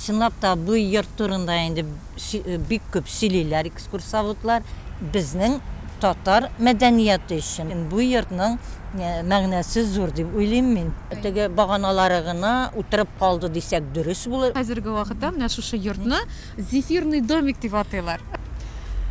Чынлап та, бу йорт турында инде бик күп сөйлиләр экскурсоводлар. Безнең татар мәдәнияте өчен бу йортның мәгънәсе зур дип уйлыйм мин. Теге баганалары гына утырып калды дисәк дөрес булыр. Хәзерге вакытта менә шушы йортны Зефирный домик дип атыйлар.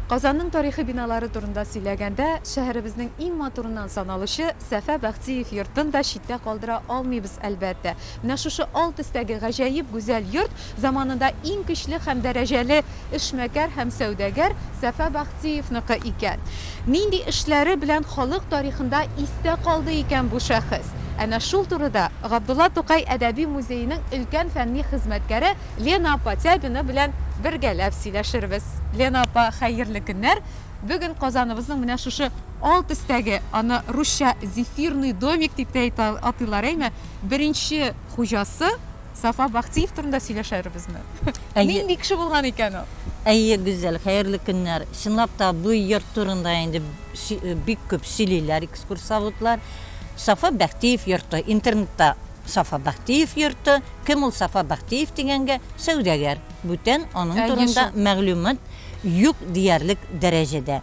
Казанның тарихи биналары турында сөйләгәндә, шәһәребезнең иң матурыннан саналучы Сәфә Бәхтиев йортын да читтә калдыра алмыйбыз, әлбәттә. Менә шушы алт өстәге гаҗәеп гүзәл йорт заманында иң көчле һәм дәрәҗәле эшмәкәр һәм сәүдәгәр Сафа Бахтиевныкы икән. Нинди эшләре белән халык тарихында истә калды икән бу шәхес? Әнә шул турыда Габдулла Тукай әдәби музееның өлкән фәнни хезмәткәре Лена апа Тябина белән бергәләп сөйләшербез. Лена апа, хәерле көннәр! Бүген Казаныбызның менә шушы алт өстәге, аны русча Зефирный домик дип тә атыйлар, әйме? беренче хуҗасы Сафа Бахтиев турында сөйләшәрбезме? Әйе. Нинди кеше булган икән ул? Әйе, Гүзәл, хәерле көннәр. Чынлап та бу йорт турында инде бик күп сөйлиләр экскурсоводлар. Сафа Бәхтиев йорты, интернетта Сафа Бәхтиев йорты, кем ул Сафа Бәхтиев дигәнгә, сәүдәгәр. Бүтән аның турында мәгълүмат юк диярлек дәрәҗәдә.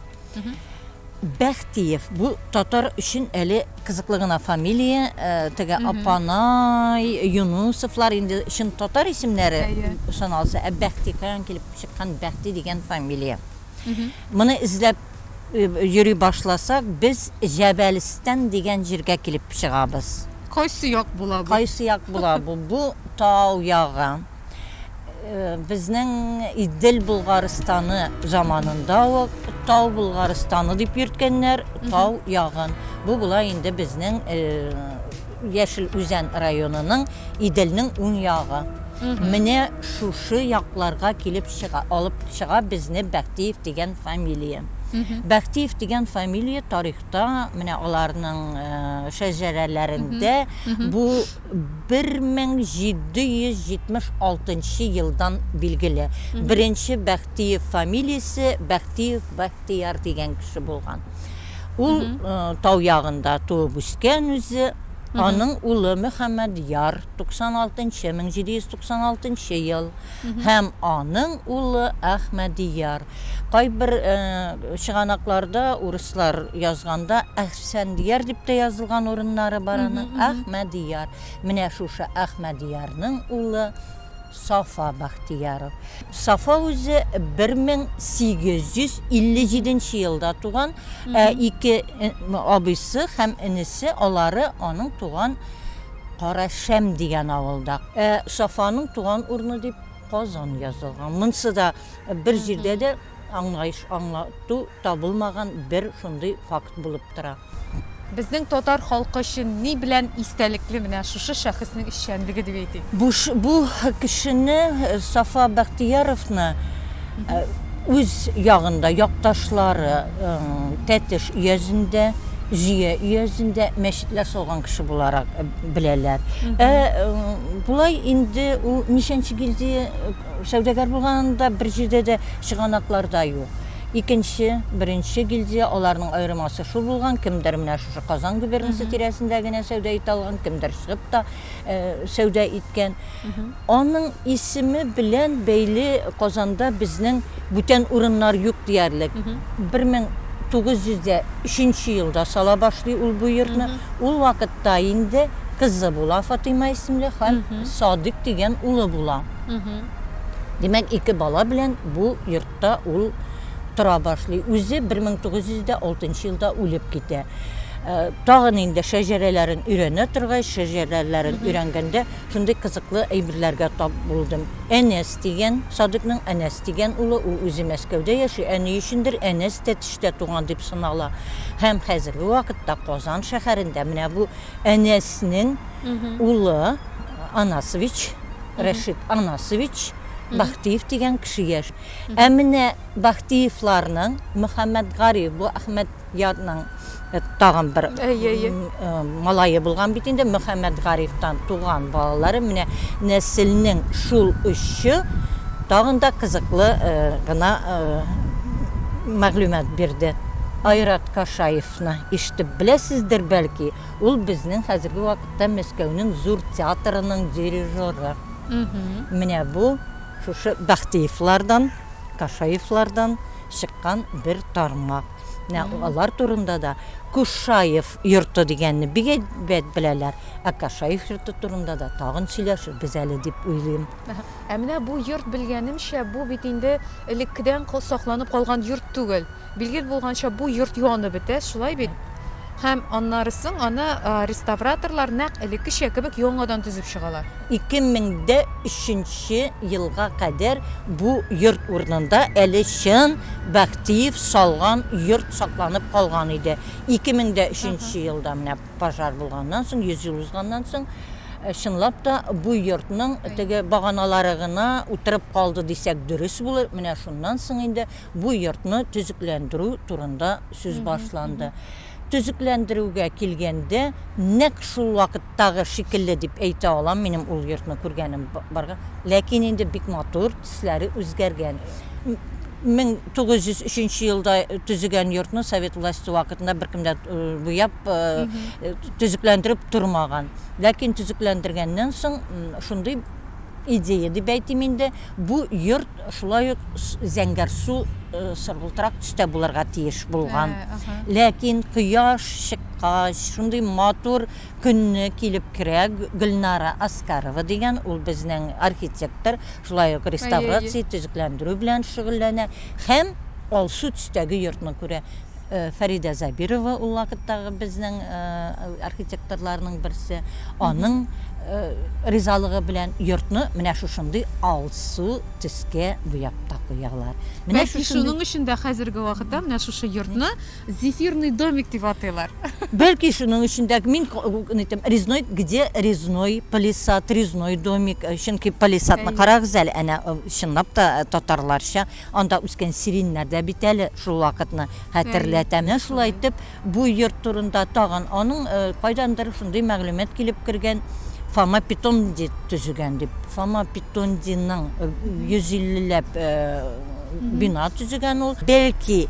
Бәхтиев. Бу татар өчен әле кызыклы гына фамилия. Э, теге Апанай, Юнусовлар инде чын татар исемнәре саналса, ә Бәхти каян килеп чыккан Бәхти дигән фамилия. Моны эзләп э, йөри башласак, без Җәбәлстан дигән җиргә килеп чыгабыз. Кайсы як була бу? Кайсы як була бу? Бу тау ягы. Безнең Идел Болгарстаны заманында ук Тау Болгарстаны дип йөрткәннәр, Тау ягын. Бу була инде безнең Яшел Үзән районының Иделнең уң ягы. Менә шушы якларга килеп чыга, алып чыга безне Бәхтиев дигән фамилия. Бәхтиев дигән фамилия тарихта, менә аларның шәҗәрәләрендә бу 1776 нчы елдан билгеле, беренче Бәхтиев фамилиясе Бәхтиев Бәхтияр дигән кеше булган. Ул тау ягында туып үскән үзе, аның улы Мөхәммәдьяр, 96 нчы, 1796 нчы ел, һәм аның улы Әхмәдияр. Кайбер чыганакларда урыслар язганда Әхсәндияр дип тә язылган урыннары бар аның. Әхмәдияр. Менә шушы Әхмәдиярның улы Сафа Бахтияров. Сафа үзе 1857 елда туган, ә ике абыйсы һәм энесе алары аның туган Карашәм дигән авылда. Ә Сафаның туган урыны дип Казан язылган. Монсы да бер җирдә дә аңлаеш аңлату табылмаган бер шундый факт булып тора. Безнең татар халкы өчен ни белән истәлекле менә шушы шәхеснең эшчәнлеге дип әйтик? Бу бу кешене э, Сафа Бәхтияровны э, үз ягында якташлары э, Тәтеш өязендә, Зөя өязендә мәчетләр салган кеше буларак беләләр. Ә болай инде ул ничәнче гильдия сәүдәгәр булганда бер җирдә дә чыганакларда юк. Икенче, беренче гильдия, аларның аермасы шул булган, кемдер менә шушы Казан губернасы тирәсендә генә сәүдә итә алган, кемдер чыгып та сәүдә иткән. Аның исеме белән бәйле Казанда безнең бүтән урыннар юк диярлек. 1903 елда сала башлый ул бу йортны. Ул вакытта инде кызы була, Фатыйма исемле, һәм Садыйк дигән улы була. Димәк, ике бала белән бу йортта ул тора башлый. Үзе 1906 елда үлеп китә. Тагын инде шәҗәрәләрен өйрәнә торгач, шәҗәрәләрен өйрәнгәндә, Шундый кызыклы әйберләргә тап булдым. Әнәс дигән, Садыйкның Әнәс дигән улы, ул үзе Мәскәүдә яши, ә ни өчендер Әнәс Тәтештә туган дип санала. Һәм хәзерге вакытта Казан шәһәрендә менә бу Әнәснең улы Анасович, Рәшит Анасович Бахтиев дигән кеше яши. Ә менә Бахтиевларның Мөхәммәтгариф, бу Әхмәт. Ятның тагын бер малае булган бит инде, Мөхәммәтгарифтан туган балалары. Менә нәселнең шул очы тагын да кызыклы гына мәгълүмат бирде. Айрат Кашаевны ишетеп беләсездер, бәлки, ул безнең хәзерге вакытта Мәскәүнең зур театрының дирижеры. Менә бу шушы Бәхтиевлардан, Кашаевлардан. чыккан бер тармак. Менә алар турында да Кушаев йорты дигәнне бик әйбәт беләләр. Ә Кашаев йорты турында да тагын сөйләшербез әле дип уйлыйм. Ә менә бу йорт, белгәнемчә, бу бит инде элеккедән сакланып калган йорт түгел. Билгеле булганча, бу йорт янып бетә, шулай бит? Һәм аннары соң аны реставраторлар нәкъ элеккечә кебек яңадан төзеп чыгалар. 2003 нче елга кадәр бу йорт урынында әле чын Бәхтиев салган йорт сакланып калган иде. 2003 нче елда менә пожар булганнан соң, 100 ел узганнан соң, чынлап та бу йортның теге баганалары гына утырып калды дисәк дөрес булыр. Менә шуннан соң инде Бу йортны төзекләндерү турында сүз башланды. Төзекләндерүгә килгәндә, нәкъ шул вакыттагы шикелле дип әйтә алам, минем ул йортны күргәнем барга. Ләкин инде бик матур, төсләре үзгәргән. 1903 елда төзегән йортны совет власте вакытында беркем дә буяп, төзекләндереп тормаган. Ләкин төзекләндергәннән соң шундый идея дип әйтим инде. Бу йорт шулай ук зәңгәр су э, сыргылтырак төстә булырга тиеш булган. Ә, Ләкин кояш чыккач, шундый матур көнне килеп керә Гөлнара Аскарова дигән, ул безнең архитектор, шулай ук реставрация, төзекләндерү белән шөгыльләнә һәм алсу төстәге йортны күрә. Фәридә Зәбирова ул вакыттагы безнең архитекторларның берсе. Аның ризалыгы белән йортны менә шушындый алсу төскә буяп та куялар. Менә Бәлки шуның өчен дә хәзерге вакытта менә шушы йортны зефирный домик дип атыйлар. Бәлки шуның өчен дә мин әйтәм, резной, где резной палисад, резной домик, чөнки палисадны карагыз әле, әнә чынлап та татарларча Анда үскән сиреньнәр дә бит әле шул вакытны хәтерләтә. Менә шулай итеп, бу йорт турында тагын аның кайдандыр шундый мәгълүмат килеп кергән, Фома Петонди төзегән дип. Фома Петондиның 150 ләп бина төзегән ул. Бәлки,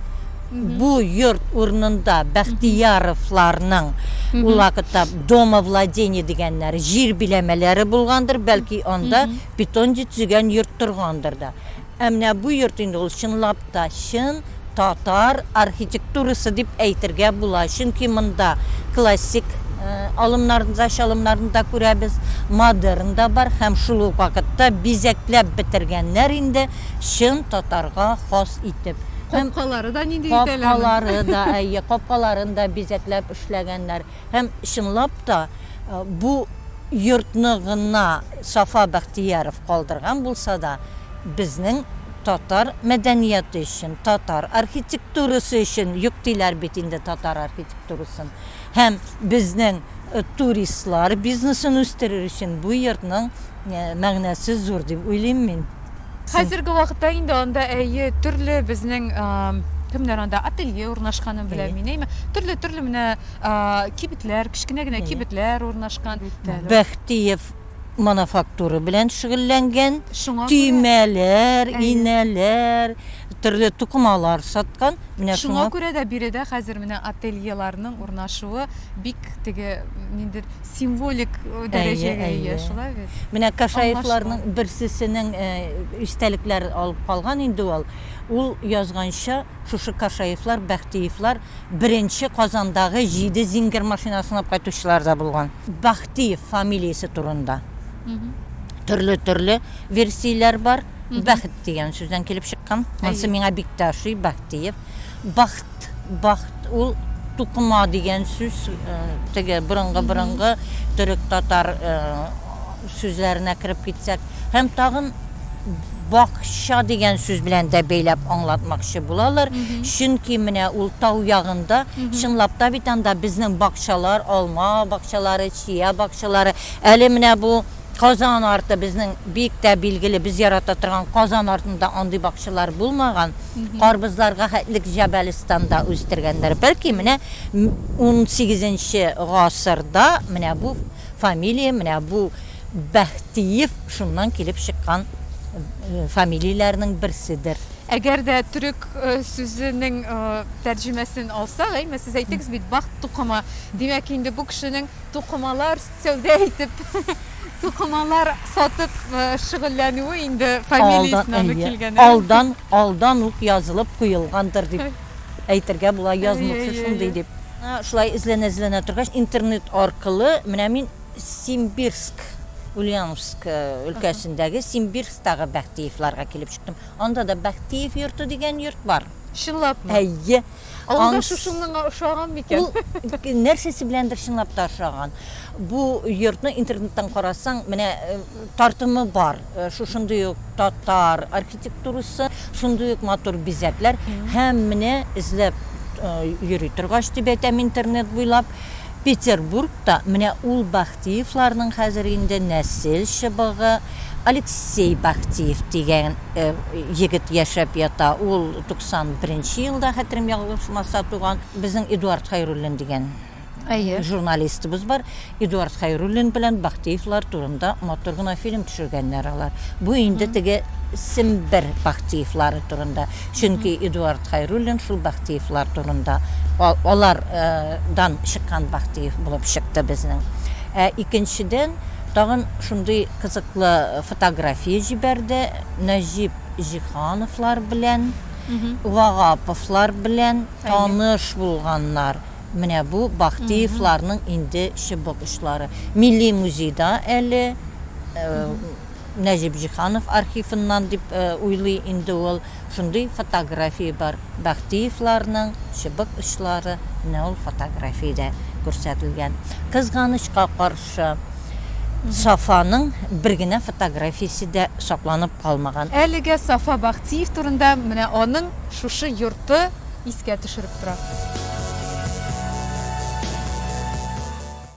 бу йорт урынында Бәхтияровларның ул вакытта домовладение дигәннәре, җир биләмәләре булгандыр, бәлки, анда Петонди төзегән йорт торгандыр да. Ә менә бу йорт инде ул чынлап та чын татар архитектурасы дип әйтергә була, чөнки монда классик алымнарны да, чалымнарны да күрәбез, модерн да бар һәм шул ук вакытта бизәкләп бетергәннәр инде чын татарга хас итеп. Капкалары да нинди итәләр? Капкалары да, әйе, капкаларын да бизәкләп эшләгәннәр. Һәм, чынлап та, бу йортны гына Сафа Бәхтияров калдырган булса да, безнең татар мәдәнияте өчен, татар архитектурасы өчен, юк диләр бит инде татар архитектурасын, һәм безнең туристлар бизнесын үстерер өчен бу йортның мәгънәсе зур дип уйлыйм мин. Хәзерге вакытта инде анда әйе төрле безнең кемнәр анда ателье урнашканын беләм мин әйме төрле төрле менә кибетләр кечкенә генә кибетләр урнашкан бәхтиев мануфактура белән шөгыльләнгән төймәләр инәләр төрле тукымалар саткан менә шуңа күрә дә биредә хәзер менә ательеларның урнашуы бик теге ниндер Символик дәрәҗәгә ия, шулай бит? Менә Кашаевларның берсесенең истәлекләр алып калган инде ул. Ул язганча, шушы Кашаевлар, Бәхтиевлар беренче Казандагы җиде зингер машина сынап кайтучылар да булган. Бәхтиев фамилиясе турында төрле-төрле версияләр бар. Бәхет дигән сүздән килеп чыккан. Монысы миңа бик тә ошый, Бәхтиев. Бахт, бахт, ул тукыма дигән сүз, теге борынгы-борынгы төрек-татар сүзләренә кереп китсәк. Һәм тагын бакча дигән сүз белән дә бәйләп аңлатмакчы булалар. Чөнки менә ул тау ягында, чынлап та бит анда безнең бакчалар, алма бакчалары, чия бакчалары. Әле менә бу Казан арты безнең бик тә билгеле, без ярата торган Казан артында андый бакчалар булмаган. Карбызларга хәтлек Җәбәлстанда үстергәннәр. Бәлки менә унсигезенче гасырда менә бу фамилия, менә бу Бәхтиев шуннан килеп чыккан фамилияләрнең берседер. Әгәр дә төрек сүзенең тәрҗемәсен алсак, әйме, сез әйттегез бит, бахт тукымы, димәк инде бу кешенең, Тукымалар сәүдә итеп, тукымалар сатып шөгыльләнүе инде фамилиясенә килгән. Алдан, алдан ук язылып куелгандыр дип әйтергә була, язмыкчы шундый дип. Шулай эзләнә-эзләнә торгач, интернет аркылы менә мин Симбирск, Ульяновск өлкәсендәге Симбирсктагы Бәхтиевларга килеп чыктым. Анда да Бәхтиев йорты дигән йорт бар. Чынлапмы? Әйе. Аңс... Аңс... шушыныңа ошаган микән? Ул нәрсәсе беләндер чынлап та ошаган. Бу йортны интернеттан карасаң, менә э, тартымы бар. Э, шушындый ук татар архитектурасы, шундый ук матур бизәкләр. Һәм менә эзләп э, йөри торгач дип әйтәм интернет буйлап, Петербургта менә ул Бахтиевларның хәзер инде нәсел чыбыгы Алексей Бахтиев дигән егет яшәп ята. Ул 91 нче елда, хәтерем ялгышмаса, туган. Безнең Эдуард Хәйруллин дигән журналистыбыз бар. Эдуард Хәйруллин белән Бахтиевлар турында матур гына фильм төшергәннәр алар. Бу инде теге Сембер Бахтиевлары турында. Чөнки Эдуард Хәйруллин шул Бахтиевлар турында, алар дан чыккан Бахтиев булып чыкты безнең. Ә икенчедән, тагын шундый кызыклы фотография җибәрде, Нәҗип Җиһановлар белән, Вагаповлар белән таныш булганнар. Менә бу Бахтиевларның инде чыбык очлары. Милли музейда әле. Нәҗип Җиһанов архивыннан дип уйлый инде ул. Шундый фотография бар. Бәхтиевларның чыбык очлары менә ул фотографиядә күрсәтелгән. Кызганычка каршы, Сафаның бер генә фотографиясе дә сакланып калмаган. Әлегә Сафа Бәхтиев турында менә аның шушы йорты искә төшереп тора.